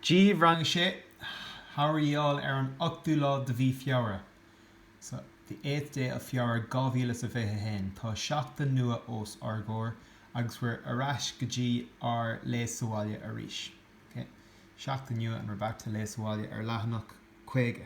Dia daoibh rang 6, how are you all ar an 8ú lá de mhí Feabhra, so, the ochtú day of Feabhra 2021. Tá seachtain nua os ár gcomhair agus we're ar ais go dtí ár Léigh sa bhaile arís. ok? Seachtain nua and we're back to Léigh sa bhaile ar leathanach 50.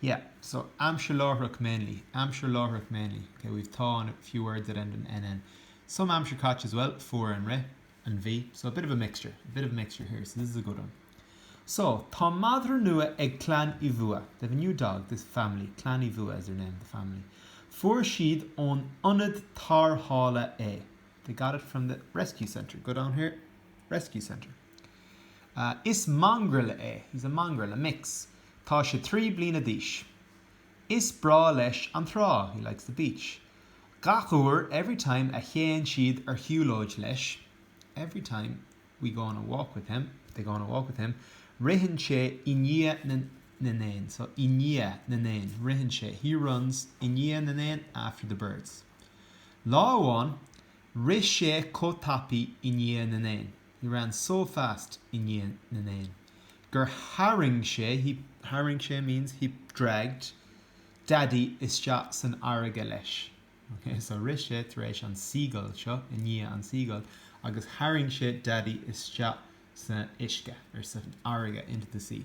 Yeah, so aimsir láithreach mainly, aimsir láithreach mainly, ok, we've tá and a few words that end in nn. Some aimsir chaite as well, fuair an rith, an bhí, so a bit of a mixture, a bit of a mixture here, so this is a good one. So tá madra nua ag Clann Uí Bhua, they have a new dog, this family, Clann Uí Bhua is their name, the family. Fuair siad ón ionad tarrthála é, they got it from the rescue centre, go down here, rescue centre. Is mongrel é, he's a mongrel, a mix. Tá sé trí bliana d'aois. Is breá leis an trá, he likes the beach. Gach uair, every time, a théann siad ar shiúlóid leis, every time we go on a walk with him, they go on a walk with him, ritheann sé i ndiaidh na n-éan, so, i ndiaidh na n-éan, ritheann sé, he runs i ndiaidh na n-éan, after the birds. Lá amháin, rith sé chomh tapaidh i ndiaidh na n-éan. he ran so fast i ndiaidh na n-éan gur tharraing sé he tharraing sé means he dragged daidí isteach san fharraige leis ok so rith sé tar éis an seagull seo i ndiaidh an seagull agus tharraing sé daidí isteach san uisce or san fharraige into the sea.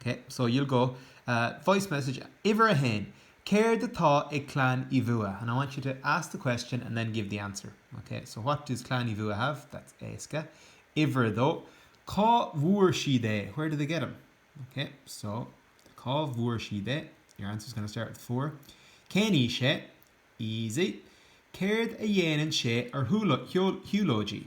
Ok, so you'll go, eh, voice message uimhir a haon, Céard atá ag Clann Uí Bhuadha? And I want you to ask the question and then give the answer. Ok, so what does Clann Uí Bhuadha have? That's éasca. Uimhir a dó, Cá bhfuair siad é? Where did they get him? Ok, so Cá bhfuair siad é? Your answer is going to start with fuair. Cén aois é? Easy. Céard a dhéanann sé ar shiúlóidí?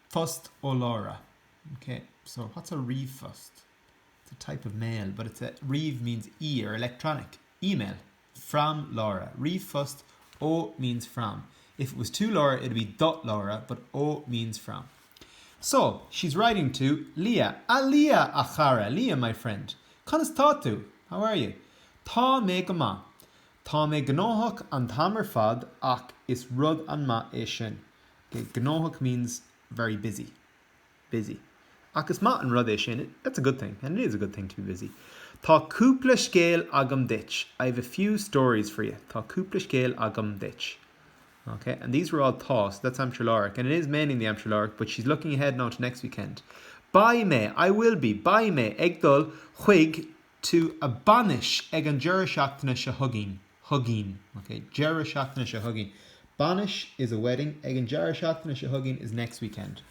Phost ó Laura, OK. So, what's a ríomhphost? It's a type of mail, but it's a, ríomh means e or electronic, email. From Laura, ríomhphost ó means from. If it was to Laura, it'd be do Laura, but ó means from. So, she's writing to Leah. A Leah, a chara! Leah, my friend! Conas atá tú? How are you? Tá mé go maith. Tá mé gnóthach an t-am ar fad, ach is rud an-mhaith é sin. Gnóthach means very busy, busy. Ach is maith an rud é sin, that's a good thing, and it is a good thing to be busy. Tá cúpla scéal agam duit, I have a few stories for you. Tá cúpla scéal agam duit. Ok, and these were all tá, so that's aimsir láithreach, and it is mainly in the aimsir láithreach, but she's looking ahead now to next weekend. Beidh mé, I will be. Beidh mé ag dul chuig to a Bainis ag an deireadh seachtaine seo chugainn, chugainn, ok? deireadh seachtaine seo chugainn Bainis is a wedding ag an deireadh seachtaine seo chugainn is next weekend.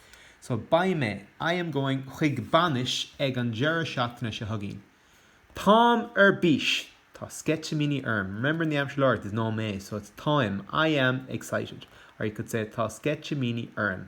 So, Beidh mé I am going chuig bainis ag an deireadh seachtaine seo chugainn. Táim ar bís! Tá sceitimíní orm. Remember in the aimsir láithreach, there's no mé, so it's Táim, I am, excited. Or you could say Tá sceitimíní orm.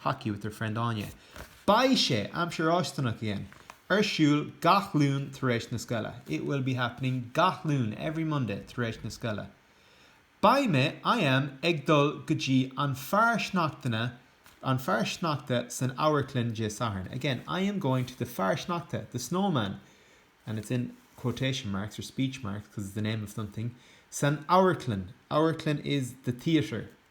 Hockey with her friend Áine. Beidh sé, aimsir fháistineach again, ar siúl gach Luan tar éis na scoile. It will be happening gach Luan, every Monday, tar éis na scoile. Beidh mé, I am, ag dul go dtí an fear sneachtana, an fear sneachta san amharclann Dé Sathairn. Again, I am going to the fear sneachta, the snowman, and it's in quotation marks or speech marks because it's the name of something, san amharclann, amharclann is the theatre.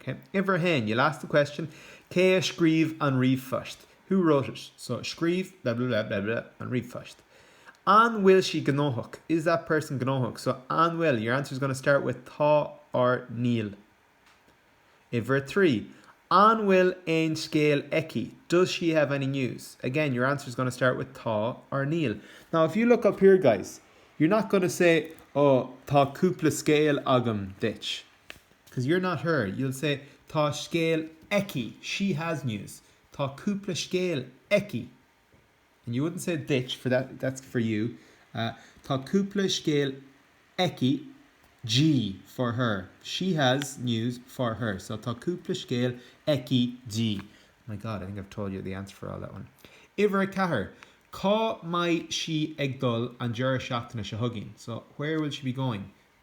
OK. Uimhir a haon, you'll ask the question Cé a scríobh an ríomhphost? Who wrote it? So Scríobh blah blah blah blah blah an ríomhphost. An bhfuil sí gnóthach? Is that person gnóthach? So An bhfuil your answer is going to start with Tá or Níl. Uimhir a trí, An bhfuil aon scéal aici? Does she have any news? Again, your answer is going to start with Tá or Níl. Now, if you look up here, guys, you're not going to say Oh, tá cúpla scéal agam duit. Because you're not her, you'll say tá scéal aici, she has news, tá cúpla scéal aici. And you wouldn't say duit, for that, that's for you, tá cúpla scéal aici, G, for her, she has news for her, so tá cúpla scéal aici di. My God, I think I've told you the answer for all that one. Uimhir a ceathair, Cá mbeidh sí ag dul an deireadh seachtaine seo chugainn? So, where will she be going?